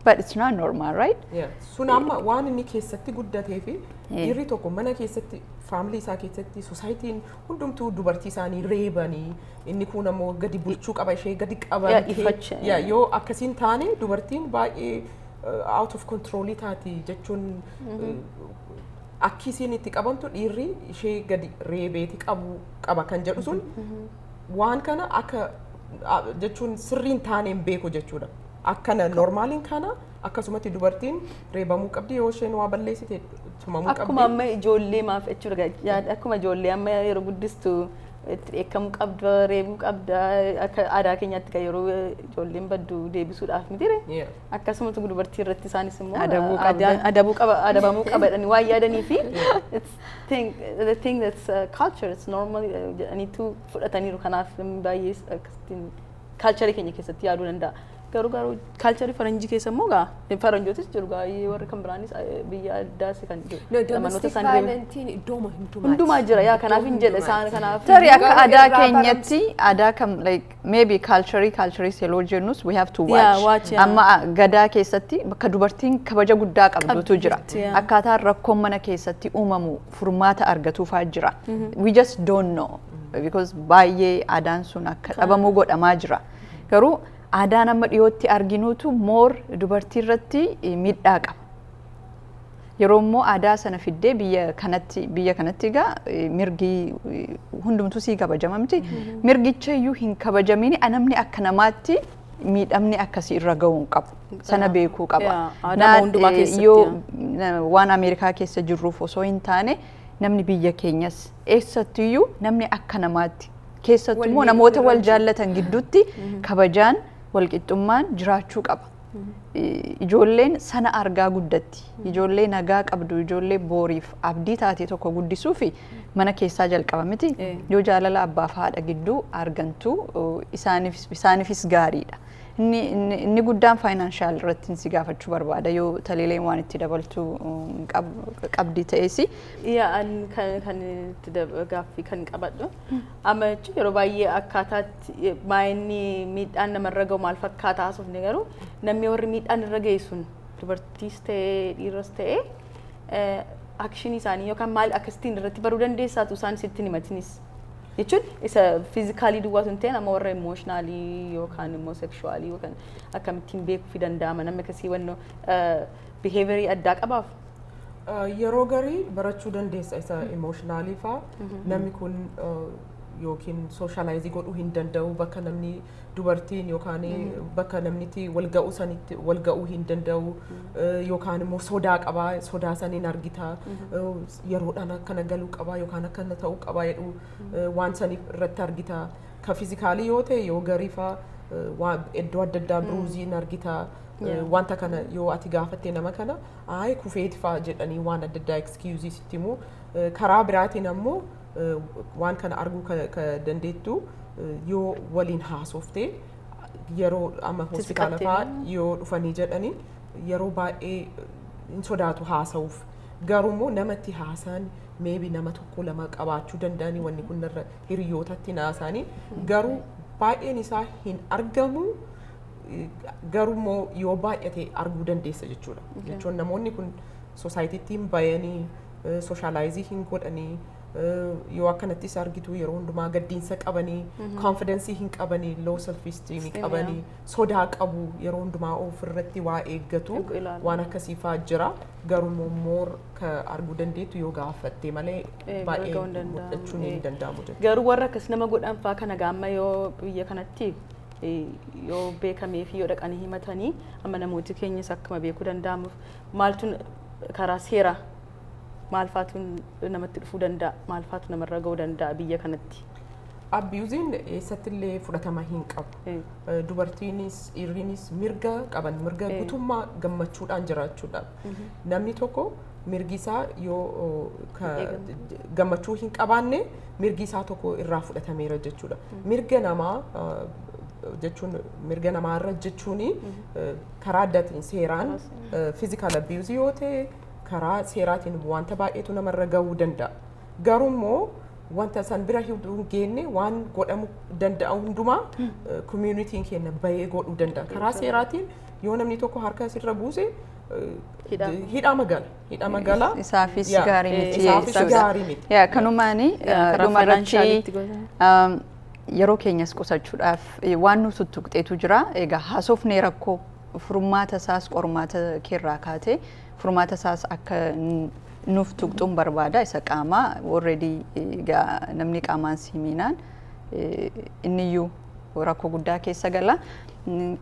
But it's not normal, right? Yeah. Sun amma waan inni keessatti guddatee fi Yeah. dhiirri tokko mana keessatti faamilii isaa keessatti sosaayitiin hundumtuu dubartii isaanii reebanii inni kuun ammoo gadi bulchuu qaba ishee gadi Yeah, qaban ifacha, Yeah, yeah. yoo akkasiin taane dubartiin baay'ee uh, out of control taati jechuun uh, akki isiin itti qabamtu dhiirri ishee gadi reebeeti qabu qaba kan jedhu sun waan kana akka a- jechuun sirriin taaneen beeku jechuudha. Akkana normaaliin kana akkasumatti dubartiin reebamuu qabdi yoo isheen waa balleessite tumamuu qabdi. Akkuma amma ijoollee maaf jechuudha yaada akkuma ijoollee amma yeroo guddistu itti dheekkamuu qabda reebuu qabda akka aadaa keenyaatti kan yeroo ijoolleen baddu deebisuudhaaf miti ree. Yeah. Akkasumatu dubartii irratti isaanis immoo Adabuu qabda. aadaan- adabuu qaba adabamuu qaba jedhanii waan yaadanii fi it's thing the thing that's uh, culture it's normal uh, jedhaniitu fudhataniiru kanaaf namni baay'ee akkasittiin kaalcharii keenya keessatti yaaduu danda'a. Garuu garuu kaalcharii faranjii keessa immoo gaa faranjootis jiru gaa warri kan biraanis eh, biyya addaas kan jiru. No, Namoota domestic isaan deeman- violentiin iddooma hundumaati. Hundumaa jira yaa kanaaf hin jedhe isaan kanaaf. Tarii akka Garuu aadaa irraa keenyatti aadaa kam like maybe culture culture seloo jennus we have to Yeah, watch. watch, yeah. Amma ah, gadaa keessatti bakka dubartiin kabaja guddaa qabdutu Qabdu jira. jirti, yeah. Akkaataa rakkoon mana keessatti uumamu furmaata argatuu fa'aa jira. We just don't know. Because baay'ee aadaan sun akka dhabamu godhamaa jira. Garuu aadaan amma dhiyootti arginuutu moor dubartii irratti eh, miidhaa qaba. Yeroo immoo aadaa sana fiddee biyya kanatti biyya kanatti egaa eh, mirgi eh, hundumtuu sii kabajama miti. Mirgicha iyyuu hin kabajamini a- namni akka namaatti miidhamni akkasii irra ga'uu hin qabu. Sana beekuu qaba. Yaa, aadaa Naa- hundumaa eh, keessatti, yoo yaa. na- waan Ameerikaa keessa jirruuf osoo hin taane namni biyya keenyas eessattiyyuu namni akka namaatti keessattuu immoo Wal namoota wal miidhagina jaallatan gidduutti kabajaan walqixxummaan jiraachuu qaba. I- Ijoolleen sana argaa guddatti. Ijoollee nagaa qabdu, ijoollee booriif abdii taate tokko guddisuufi mana keessaa jalqaba miti Eh. yoo jaalala abbaaf haadha gidduu argantu isaaniif isaaniifis gaariidha. Inni, inni, inni guddaan faayinaanshaal irratti si gaafachuu barbaada yoo taliileen waan itti dabaltu mm, qab, qabdi ta'eesi. Yaa an kan kan itti dab- gaaffii kan qabadhu amma jechuun yeroo baay'ee akkaataatti maayinni miidhaan namarra gahu maal fakkaata haasofne garuu namni warri miidhaan irra gahe sun dubartiis ta'ee dhiiras ta'ee akshinii isaanii yookaan maal akkasittiin irratti baruu dandeessaatu isaan sitti himatinis. Jechuun isa fiizikaalii duwwaa sun ta'een amma warra imooshinaali yookaan immoo sekshuwaalii yookaan akkamittiin beekuufi danda'ama namni akkasii wannoo biheevirii addaa qabaaf. Yeroo garii barachuu dandeessa isa imooshinaaliifaa namni kun yookiin sooshaalaayizii godhuu hin danda'u bakka namni. Uh, dubartiin yookaan bakka namnitti wal ga'uu sanitti wal ga'uu hin danda'u eh, yookaan immoo sodaa qaba sodaa san hin argita eh, yeroodhaan akkana galuu qaba yookaan akkana ta'uu qaba jedhu eh, waan san irratti argita ka fizikaalii yoo ta'e yoo gariifa waan iddoo adda addaa biruuzii hin argita eh, Yeah. wanta kana yoo ati gaafatte nama kana ayi kufeeti fa'a jedhanii waan adda addaa excuse sitti himu Eh, karaa biraatiin ammoo waan kana arguu ka, ka dandeettu yoo waliin haasofte yeroo amma Itti hospitaala siqattee fa'aa immoo. yoo dhufanii jedhanii yeroo baay'ee hin sodaatu haasa'uuf. Garuu immoo namatti haasaan meebi nama tokko lama qabaachuu danda'anii wanni kun irra hiriyootatti naasaanii garuu baay'een isaa hin argamu eh, garuu immoo yoo baay'ate arguu dandeessa jechuudha. Jechuun namoonni kun sosaayitiitti hin bayanii sooshaalaayizii hin godhanii yoo akkanatti isa argitu yeroo hundumaa gaddiinsa qabanii koonfidensii hin qabanii loo self esteem Esteem, qabanii sodaa qabu yeroo hundumaa of irratti waa eeggatu Eegu ilaalu. waan akkasii fa'aa jira garuu immoo moor ka arguu dandeettu yoo gaafatte malee Eh, baay'ee arguu hin danda'amu. mul'achuun Eh. hin danda'amu jechuudha. Garuu warra akkas nama godhan fa'aa kana gaamma yoo biyya kanatti eh, yoo beekamee fi yoo dhaqanii himatanii amma namooti keenyas akkuma beekuu danda'amuuf maaltu karaa seera maalfaatu namatti dhufuu danda'a maalfaatu namarra ga'uu danda'a biyya kanatti. Abiyuuziin eessattillee fudhatama hin qabu. Eh, Eh, Dubartiinis dhiirriinis mirga qaban mirga Eh. guutummaa gammachuudhaan jiraachuudhaaf. Namni tokko mirgi isaa yoo oh, ka- Eegamu. j- gammachuu hin qabaanne mirgi isaa tokko irraa fudhatameera jechuudha. Mirga namaa eh, jechuun mirga namaa irra jechuun karaa addaatiin seeraan Karaa seeraan. fiizikaal abiyuuzii yoo ta'e karaa seeraatiin wanta baay'eetu namarra gahuu danda'a. Garuu immoo wanta san bira hin geenne waan godhamu danda'a hundumaa koomiyunitiin keenya bahee godhuu danda'a. Karaa seeraatiin yoo namni tokko harka asirra buuse Hidhaa. hidhaa magala. Hidhaa magala. Isaafis Yaa, gaarii miti isaafis jechuudha. gaarii miti. Yaa kanumaani Yaa, karaa dhuma irratti financialitti gosa. um, Yeroo keenyas qusachuudhaaf waan nu tuttuqxeetu jira. Egaa haasofnee rakkoo furmaata isaas qormaata keerraa kaatee furmaata isaas akka nuuf tuqxuun barbaada isa qaamaa already namni qaamaan si miinaan inniyyuu rakkoo guddaa keessa gala.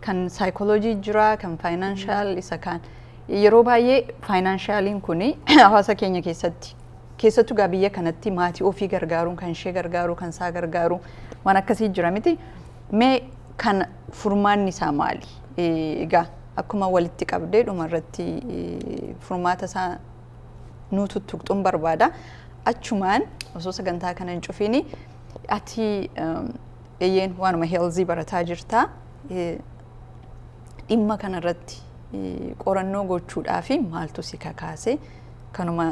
Kan saayikooloojii jira kan faayinaanshaal isa kaan yeroo baay'ee faayinaanshaalin kun hawaasa keenya keessatti Keessattu egaa biyya kanatti maatii ofii gargaaruun kan ishee gargaaruu kan isaa gargaaruu waan akkasii jira miti. Mee kan furmaanni isaa maali? Egaa akkuma walitti qabdee dhuma irratti furmaata isaa nuu tuttuqxuun barbaada. Achumaan osoo sagantaa kana hin cufiini ati eeyyeen waanuma heelzii barataa jirta. Dhimma kanarratti qorannoo gochuudhaaf maaltu si kakaase? Kanuma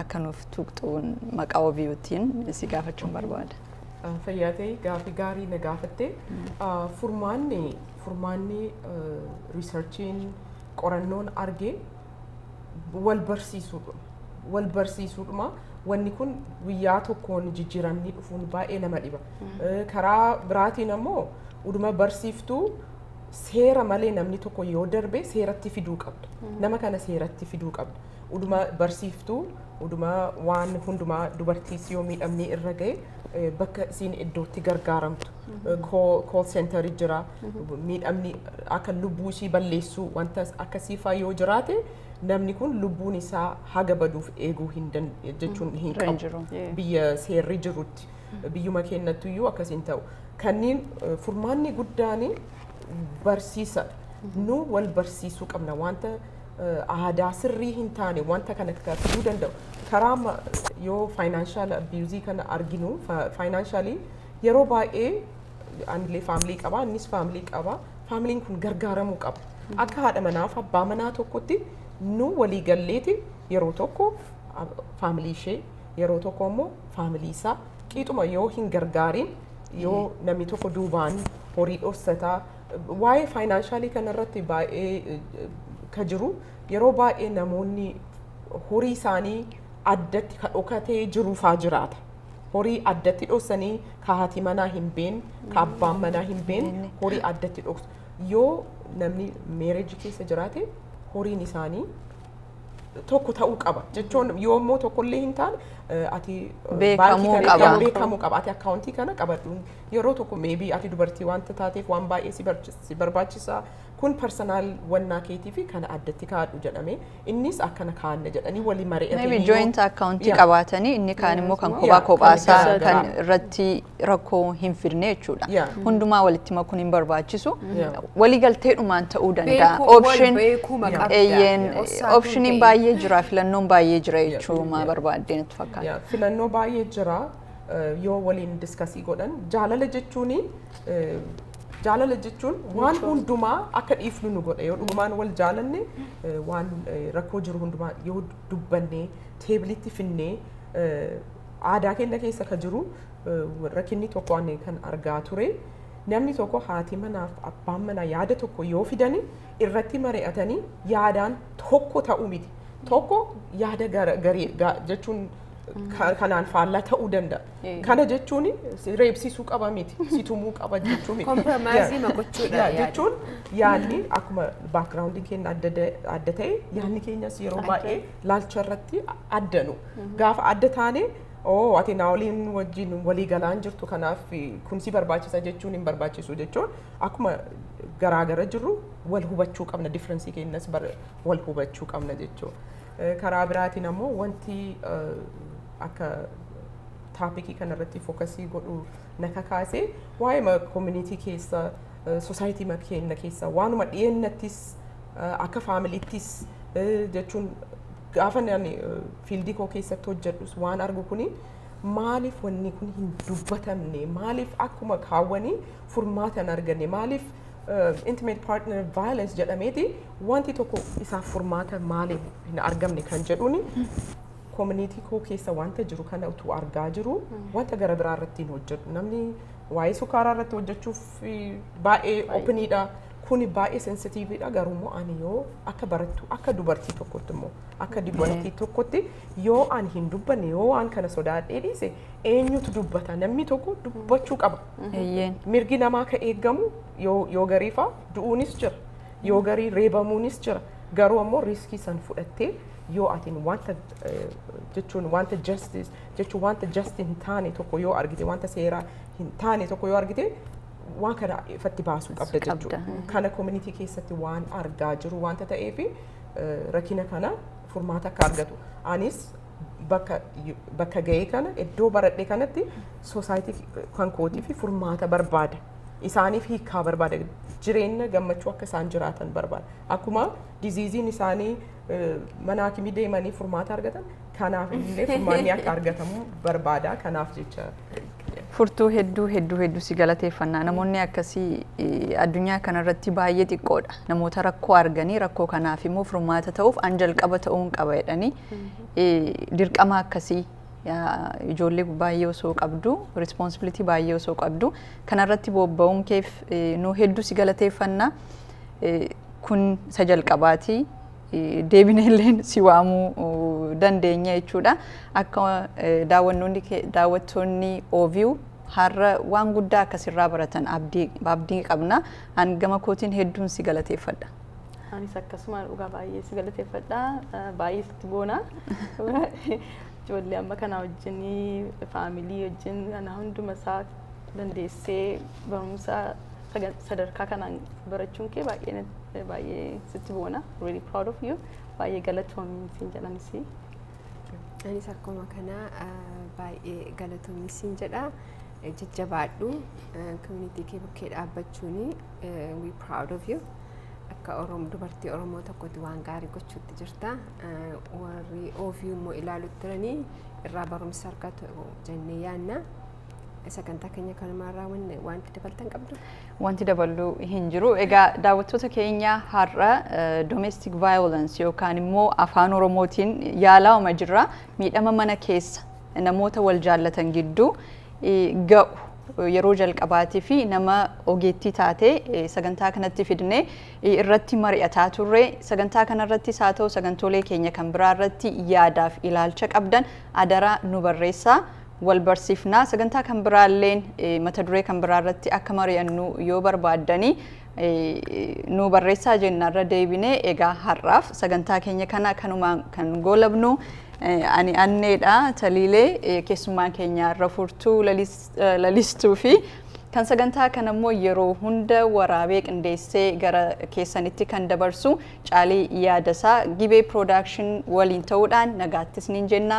akka nuuf tuqxuun maqaa OVUtiin si gaafachuun barbaada. Fayyaa ta'e gaafii gaarii na gaafatte. Furmaanni furmaanni riisarchiin qorannoon arge wal barsiisuudha. Wal barsiisuudhuma wanni kun guyyaa tokkoon jijjiiramni dhufuun baay'ee nama dhiba. Karaa biraatiin ammoo uduma barsiiftuu seera malee namni tokko yoo darbe seeratti fiduu qabda. Nama kana seeratti fiduu qabda. Uduma barsiiftuu, uduma waan hundumaa dubartiis yoo miidhamni irra ga'e eh, bakka isiin iddootti gargaaramtu. Kool seentarii jira. Miidhamni akka lubbuu ishii balleessuu wanta akkasii faa yoo jiraate namni kun lubbuun isaa haga baduuf eeguu hin dan- jechuun hin Irra hin qabu. jiru. Yeah. Biyya seerri jirutti. Biyyuma keennattuyyuu akkas hin ta'u. Kanniin eh, furmaanni guddaan barsiisa. Nu wal barsiisuu qabna. Wanta eh, aadaa sirrii hin taane wanta kana taasisuu danda'u. Karaa ma- yoo faayinaanshaal abiyuuzii kana arginu faayinaanshaali yeroo baay'ee anilee faamilii qaba innis faamilii qaba faamiliin kun gargaaramuu qaba. Akka haadha manaaf abbaa manaa tokkotti nu walii galleeti yeroo tokko ab- faamilii ishee Yeroo tokko immoo faamilii isaa qiixuma yoo hin gargaariin yoo namni tokko duubaan horii dhossataa waa'ee faayinaanshalii kanarratti baay'ee eh, ka jiru yeroo baay'ee namoonni horii isaanii addatti ka dhokatee jiruufaa jiraata. Horii addatti dhossanii ka haati manaa hin been, ka abbaan manaa hin been beenne. horii addatti dhoksu. Yoo namni meereejii keessa jiraate horiin isaanii tokko ta'uu qaba jechuun yoo immoo tokko illee hin taane eh, ati eh, Beekamuu baankii kana qaba. eegamu beekamuu qaba ati akkaawuntii kana qabadhu yeroo tokko meebii ati dubartii wanta taateef waan baay'ee si barchi- si barbaachisa kun persinaal wannaa keetii fi kana addatti kaa'adhu jedhame innis akkana kaa'anna jedhanii walii mari'atanii Maybe yoo- joint account Yeah. qabaatanii inni kaan immoo kan Yeah, kophaa kan kophaa isaa garaa kan garaa. irratti rakkoo hin fidne jechuudha. Yeah. Hundumaa walitti makuun hin barbaachisu. Yeah. Waliigalteedhumaan ta'uu danda'a. Beekuu- wal Option- beekuma Yeah. qabda. Eeyyeen, Yeah. Osaan optioniin hin baay'ee jira, filannoon baay'ee jira Yeah. jechuuma Yeah. barbaadde natti fakkaata. Yaa, filannoo baay'ee jira eh, yoo waliin diskasii godhan jaalala jechuun jaalala jechuun waan hundumaa akka dhiifnu nu godha yoo dhugumaan wal jaalanne eh, waan eh, rakkoo jiru hundumaa yoo dubbanne teebilitti finnee eh, Aadaa keenya keessa ka jiru rakkinni tokko ani kan argaa ture namni tokko haati manaaf abbaan manaa yaada tokko yoo fidani irratti mari'atanii yaadaan tokko ta'uu miti. Tokko yaada gara- garii ga- jechuun ka- kanaan faallaa ta'uu danda'a. Eh. Kana jechuun si reebsisuu qaba miti, si tumuu qaba jechuu miti. Compromise ma gochuudha Yaa, yaada. jechuun yaadni akkuma baakgiraawundiin keenya adda da- adda ta'e yaadni keenyas yeroo Adda. baay'ee laalcha irratti adda nu. Gaafa adda taane oo ati naa waliin wajjin walii galaa hin jirtu kanaaf kun si barbaachisa jechuun hin barbaachisu jechuun akkuma garaa gara jirru wal hubachuu qabna differensii keenyas bar- wal hubachuu qabna jechuu. Eh, Karaa biraatiin ammoo wanti eh, akka taapikii kanarratti fookasii godhu na kakaase waa'ee koominiitii keessa sosaayitii keenya keessa waanuma dhiyeennattis eh, akka faamiliittis eh, jechuun Gaafa ani fiildii koo keessatti hojjedhus waan argu kuni maaliif wanni kun hin dubbatamne maaliif akkuma kaawwanii furmaata hin arganne maaliif intimate partner violence jedhameeti wanti tokko isaaf furmaata maaliif hin argamne kan jedhuuni koominiitii koo keessa wanta jiru kana utuu argaa jiru wanta gara biraa irratti hin hojjedhu namni waa'ee sukaaraa irratti hojjechuuf baay'ee opiniidha. Kuni baay'ee sensitiiviidha garuu immoo ani yoo akka barattuu akka dubartii tokkotti immoo akka dubartii tokkotti yoo ani hin dubbanne yoo waan kana sodaadhee dhiise eenyutu dubbata namni tokko dubbachuu qaba. Eeyyeen. Mirgi namaa akka eegamu yoo yoo garii faa du'uunis jira yoo garii reebamuunis jira garuu ammoo riiskii san fudhattee yoo atiin wanta eh, jechuun wanta justice jechuun wanta just hin taane tokko yoo argite wanta seeraa hin taane tokko yoo argite waan kana ifatti baasuu qabda jechuudha. Kana community keessatti waan argaa jiru wanta ta'eef rakkina kana furmaata akka argatu. Anis bakka bakka ga'ee kana iddoo baradhe kanatti soosaayitii kan kootii fi furmaata barbaada. Isaaniif hiikaa barbaada. Jireenya gammachuu akka isaan jiraatan barbaada. Akkuma diziiziin isaanii eh, mana hakimii deemanii furmaata argatan kanaaf illee furmaanni akka argatamu barbaada. Kanaaf jecha Furtuu hedduu hedduu hedduu si galateeffannaa namoonni akkasii eh, addunyaa kanarratti baay'ee xiqqoodha namoota rakkoo arganii rakkoo kanaaf immoo furmaata ta'uuf an jalqaba ta'uun qaba jedhanii eh, dirqama akkasii yaa, ijoollee baay'ee osoo qabdu responsibility baay'ee osoo qabdu kanarratti bobba'uun keef eh, nu hedduu si galateeffannaa Eh, kun isa jalqabaati deebinee illee si waamuu dandeenya jechuudha. Akka daawwannoonni daawwattoonni OView har'a waan guddaa akkasirraa baratan abdii qabna. An gama kootiin hedduun si galateeffadha. Anis akkasuma dhugaa baay'ee si galateeffadha. Baay'ee sitti boona. Ijoollee amma kana wajjin faamilii wajjin kana hunduma isaa dandeessee barumsa sagan- sadarkaa kanaan barachuun kee baay'ee natti- baay'ee sitti boona really proud of you baay'ee galatoomi siin jedhan isii Anis akkuma kana ah, baay'ee galatoomi siin jedha. Eh, Jajjabaadhu. Community kee bukkee dhaabbachuuni. eh, We proud of you. Akka Oromoo dubartii Oromoo tokkotti waan gaarii gochuutti jirta. Eh, Warri OVU immoo ilaalutti jiranii irraa barumsa argatu jennee yaanna. Sagantaa keenya kanumaan raawwanne wanti dabaltan qabdu. Wanti daballu hin jiru. Egaa daawwattoota keenya har'a domestic violence yookaan immoo afaan Oromootiin yaalaa'uma jirra. Miidhama mana keessa namoota wal jaallatan gidduu ga'u yeroo jalqabaatii fi nama ogeettii taate sagantaa kanatti fidne irratti mari'ataa turre. Sagantaa kanarrattis haa ta'u sagantoolee keenya kan biraa irratti yaadaaf ilaalcha qabdan adaraa nu barreessaa. wal barsiifna. Sagantaa kan biraalleen mata duree kan biraa irratti akka mari'annu yoo barbaaddanii nu barreessaa jenna irra deebinee egaa har'aaf sagantaa keenya kana kanumaan kan goolabnu ani anneedha taliilee keessummaan keenya irra furtuu lalistuu fi kan sagantaa kan ammoo yeroo hunda waraabee qindeessee gara keessanitti kan dabarsu caalii yaadasaa gibee piroodakshin waliin ta'uudhaan nagaattis niin jenna